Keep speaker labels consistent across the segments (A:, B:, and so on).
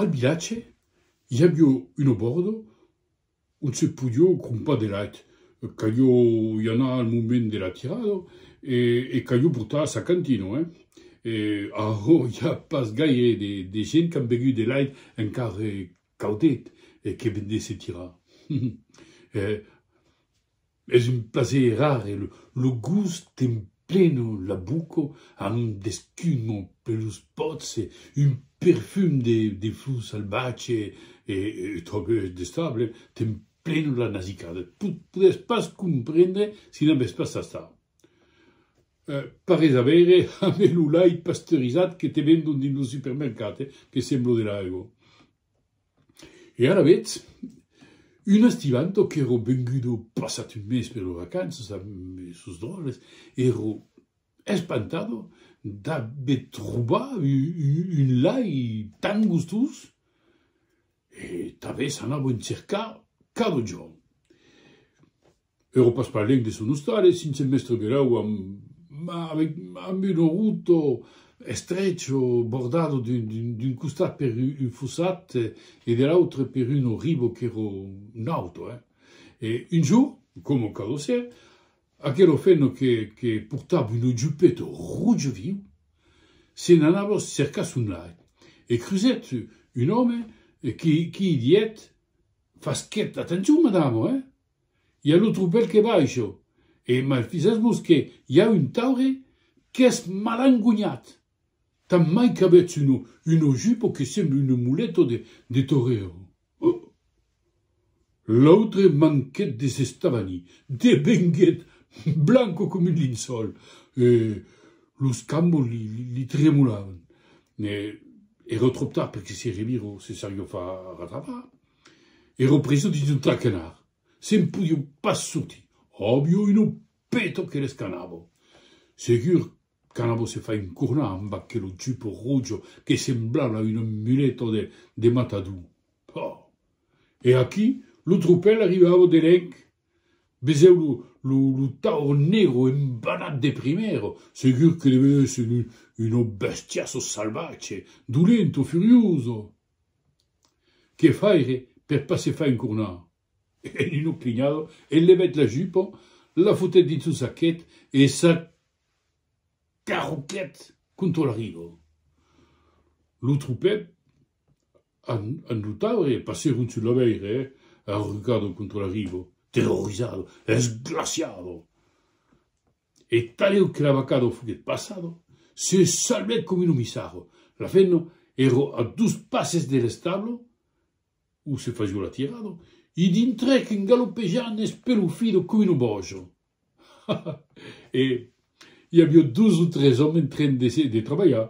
A: Al vilatge i avió un obòrdo ont se podió crompar de lait. Calió i anar al moment de la tirada e calió portar sa cantina. Ara i a pas gaire de gent qu'an begut de lait encara caudet e que ven de se tirar. Es un plaser rare, lo gust t'emplena la boca amb d'escuma per los pòts e un perfum de flor salvatge e tròp destable t'emplena la nasicada. Podriás pas comprendre si n'avèss pas tastat. Parés avèire aver lo lait pasteurizat que te vendon dins lo supermercat, que sembla de l'aigua. E ara vetz, un estivanto qu'èro vengudo passat un mes per lo vacanças a sos Dòrres, èro espantado d'aver trobat un lai tan gustós e tanben s'anavo en cercar cada jorn. E ropas pas lengde son ostales, sinse mèstre Berau amb, ma avec, amb un oruto estrecho bordado d'un, d'un costat per un fossat e de l'autre per un oribo qu'èro nauto, hein. E un jour, coma cada ser, aquelo fenno que, que portava un ojupeto rojo viu, se n'anava cercar son lair e crusèt un òme qui, qui i dièt, Fasquèt atencion, madama, hein! I a lo tropèl que va això. E maifisas-mos que i a un taure qu'es malangonhat. Tant mai qu'avètz un un ojupo que sembla un muleto de de torero. Huh! L'autre manquèt de s'estavanir, devenguèt blanco com un linçòl e los cambos li li tremolavan. Era tròp tard perque se revira o se sarió far ratapar. Ero preso dins un traquenard. Se'n podieu pas sortir. Avieu un peto que l'escanavo. Segur qu'anavo se far encornar amb aquelo jupo rojo que semblava una muleta de de matador. Pah! E aquí lo tropèl arribava de lenc. Vesèu lo lo lo taur negro embanat de primièra. Segur que devèu èsser un una bèstia salvatge, dolenta, furiosa. Que faire per pas se far encornar? E Nino Crignado enlevèt la jupa, la fotèt dins son saquet e s'acarroquèt contra la riba. Lo tropèl amb lo talhaire passèron sus la veire, arrucado contra la riba, terrorizado, esglaciado. E taleu que l'abacado foguèt passado, se salvèt com unu missaro. La femna èro a dus passes de l'establo, où se fazió l'atirado, i dintrèc en galopejant espelufido com unu bojo. Ha! ha! E i avió dus o tres òmes en train de trabalhar,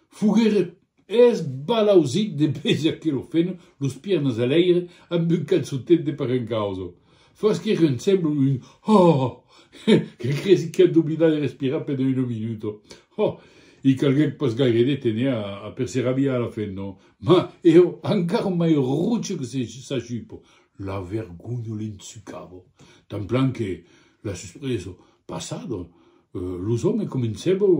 A: foguèron Es balausit de beja que lo feno, los piernas a l'aire, amb un calçotet de parencausa. Fòs que reun semblo un hòhòhò, que cresi qu'a doblidat de respirar pendent una minuta. Ho, i calguèc pas gaire de tene a per se rabiar a la feno, mas eo encara mai roche que sa jupa, La vergonha l'ensucava, tan plan que, la suspresa passada, los òmes començavan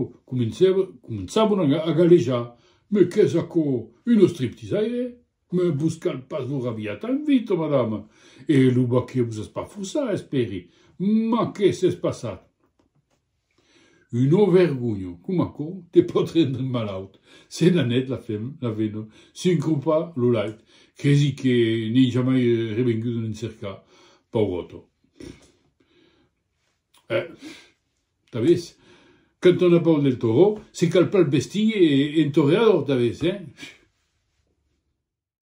A: a galejar, Mès qu'es aquò, un ostriptisaire? Mès vos cal pas vos rabiar tan vita, madama, e lo baquet vos es pas forçat, espèri. Mas qué s'es passat? Una vergonha, com aquò te pòt rendre malaut. Se n'anèt la fem, la vena, s'encropa lo lait, cresi que n'ei jamai revengut en encercar. Pauròta. Pff! Eh! T'avés? Quand on a paur del torró, se cal pas el bestir en torreador, t'avés, eh? Pff!